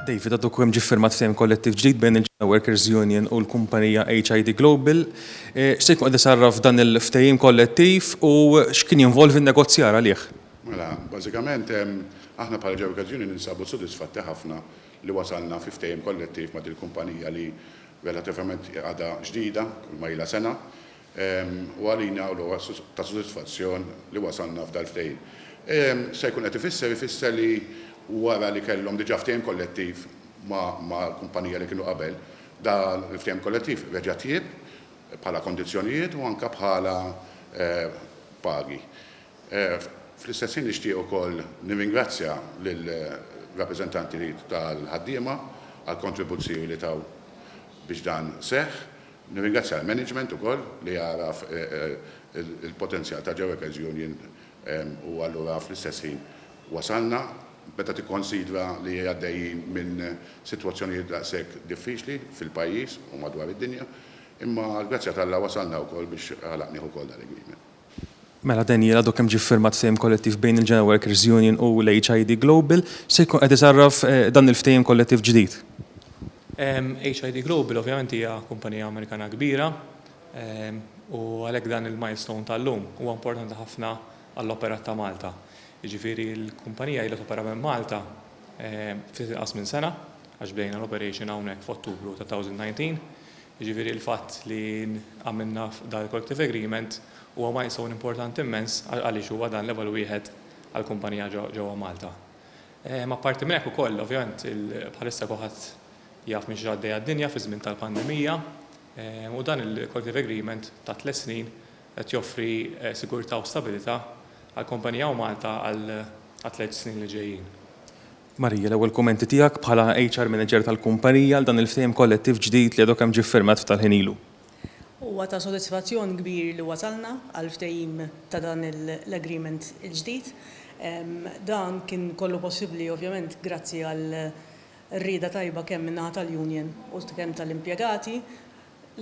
David, għadu kem ġi firmat ftehim kollettiv ġdid bejn il-Ġena Workers Union u l-kumpanija HID Global. Eh, X'se jkun qed isarraf dan il-ftehim kollettiv u x'kien jinvolvi n-negozjar għalih? Mela, bażikament aħna bħala Ġena Workers Union ninsabu sodisfatti ħafna li wasalna fi ftehim kollettiv ma' dil-kumpanija li relativament għadha ġdida, kull ma ilha sena. u għalina hu logħob ta' sodisfazzjon li wasalna f'dal-ftehim. Se jkun qed ifisser ifisser li wara li kellhom diġà ftehim kollettiv mal-kumpanija li kienu qabel, dan il-ftehim kollettiv reġa' tjieb bħala kondizzjonijiet u anke bħala pagi. Fl-istess ħin nixtieq ukoll nirringrazzja lill-rappreżentanti tal-ħaddiema għall-kontribuzzjoni li taw biex dan seħħ. Nirringrazzja l-management ukoll li għaraf il-potenzjal ta' Joekers Union u allura fl-istess ħin wasalna. Meta tikkonsidra li għaddejjin minn sitwazzjonijiet daqshekk diffiċli fil-pajjiż u madwar id-dinja, imma għall-grazzja t'Alla wasalna wkoll biex għalaq nieħu wkoll dan l-agreement. Mela Daniel għadu kemm ġie ffirmat ftehim kollettiv bejn il-Genoa Workers Union u l-HID Global, se jkun qed isarraf dan il-ftehim kollettiv ġdid? HID Global ovvjament hija kumpanija Amerikana kbira u għalhekk dan il-milestone tal-lum huwa importanti ħafna għall-operat ta' Malta. Jiġifieri l-kumpanija ilha topera minn Malta ftit inqas minn sena għax bdejna l-operation hawnhekk f'Ottubru ta' 2019. Jiġifieri l-fatt li għamilna dan il-collective agreement huwa milestone importanti immens għaliex huwa dan l-ewwel wieħed għall-kumpanija ġewwa Malta. Apparti minn hekk ukoll, ovvjament, bħalissa kulħadd jaf minn x'għaddejja d-dinja fiż-żmien tal-pandemija u dan il-collective agreement ta' tliet snin qed joffri sigurtà u stabilità għall-kumpanija u Malta għat-tliet snin li ġejjin. Maria, l-ewwel kummenti tiegħek bħala HR manager tal-kumpanija għal dan il-ftehim kollettiv ġdid li għadu kemm ġie ffirmat ftit tal-ħin ilu? Huwa ta' sodisfazzjon kbir li wasalna għal ftehim ta' dan l-agreement il-ġdid. Dan kien kollu possibbli ovvjament grazzi għal rieda tajba kemm min-naħa tal-union u kemm tal-impjegati.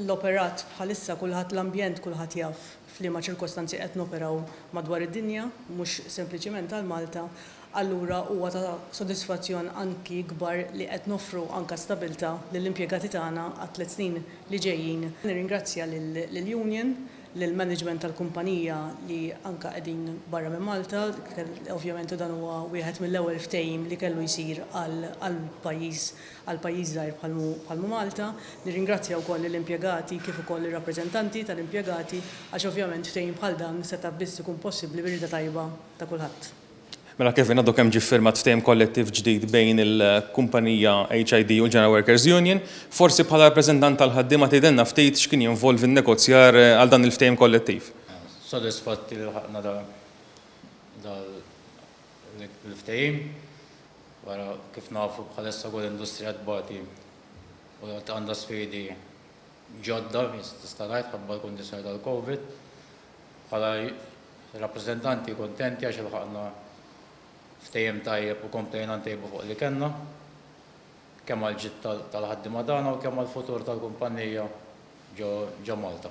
l-operat bħalissa kulħadd l-ambjent kulħadd jaf f'liema ċirkostanzi qed noperaw madwar id-dinja, mhux sempliċiment għal Malta, allura huwa ta' sodisfazzjon anki kbar li qed noffru anke stabilta' lill-impjegati tagħna għat-tliet snin li ġejjin. Nirringrazzja lill-union, lill-management tal-kumpanija li anke qegħdin barra minn Malta, ovvjament u dan huwa wieħed mill-ewwel ftehim li kellu jsir għall-pajjiż għal pajjiż żgħir bħal hu Malta. Nirringrazzja wkoll lill-impjegati kif ukoll lir-rappreżentanti tal-impjegati għax ovvjament ftehim bħal dan seta' biss ikun possibbli bir-rieda tajba ta' kulħadd. Mela Kevin, għadu kemm ġie ffirmat ftehim kollettiv ġdid bejn il-kumpanija HID u l-General Workers Union. Forsi bħala rappreżentant tal-ħaddiema tgħidilna ftit x'kien jinvolvi n-negozjar għal dan il-ftehim kollettiv? Sodisfatti li lħaqna dan Il-ftehim, wara kif nafu bħalissa kull industrija tbati u għandha sfidi ġodda, tista' ngħid, ħabba l-kundizzjoni tal-Covid. Bħala rappreżentanti kuntenti għax ilħaqna ftehim tajjeb u komplejna ntejbu fuq li kellna, kemm għall-ġid tal-ħaddiema tagħna u kemm għall-futur tal-kumpannija ġo Malta.